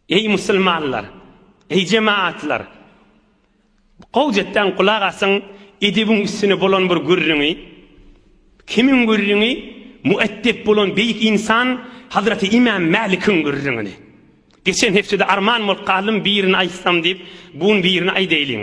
Eý musulmanlar, eý jemaatlar! Gowjetden gulak asyň, edebiň üstüne bolan bir gürrüňi. Kimiň gürrüňi? Müeddep bolan beýik ynsan Hazraty Imam Mälikiň gürrüňini. Geçen hepdede arman bolup galdym birini aýtsam diýip, bu gün birini aýdaýlyň.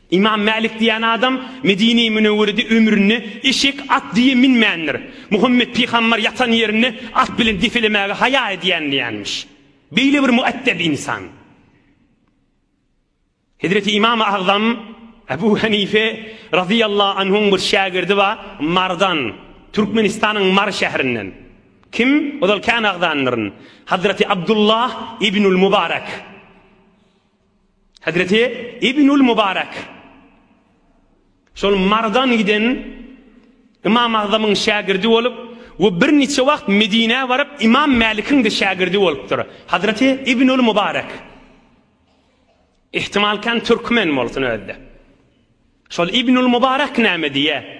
Ymam Mälik diýen adam Medine-i Münewwerede ömründe eşek, at diýe minmändir. Muhammet pygamber ýatan ýerini at bilen depelemäge haýa edýän diýenmiş. Beýle bir müeddep ynsan. Hezreti Ymam-y Agzam Ebu Hanife razyýallahu anhuň bir şägirdi bar, Mardan, Türkmenistanyň Mary şäherinden. Kim? Ozal kän agzandyryn. Hazreti Abdullah ibnul Mubarek. Hezreti Ibnül Mübarek şol Mardan giden Imam Agzamyň şägirdi bolup we bir niçe wagt Medinä baryp Imam Mälikiň de şägirdi bolupdyr. Hezreti Ibnül Mübarek ihtimal kan türkmen bolsun özde. Şol İbnül Mübarek näme diye?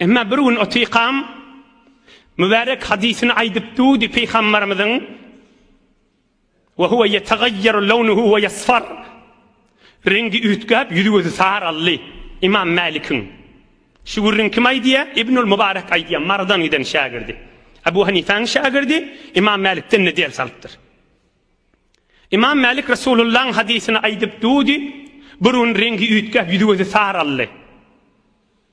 Emma bir gün Otykam mübärek hadysyny aýdyp dudy Pygambarymyzyň Wa huwa yetagayyaru lawnuhu wa yasfar Rengi üýtgäp, ýüzi gözi saraldy. Imam Mälikiň Şu gürrüň kim aýdýa? Ibnul Mubarek aýdýa, Marydan giden şägirdi. Abu Hanifäň şägirdi, Imam Mälikden ne ders alypdyr. Imam Mälik Resulullaň hadysyny aýdyp dudy, bir gün rengi üýtgäp, ýüzi gözi saraldy.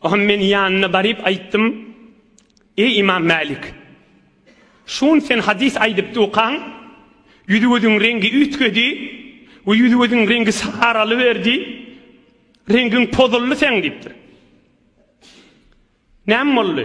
Oňa men ýanyna baryp aýtdym, Eý Ymam Mälik! Şun sen hadys aýdyp dukaň, ýüz-gözüň reňgi üýtgedi we ýüz-gözüň reňgi saralyberdi, reňgiň pozuldy seň diýipdir. Näme boldy?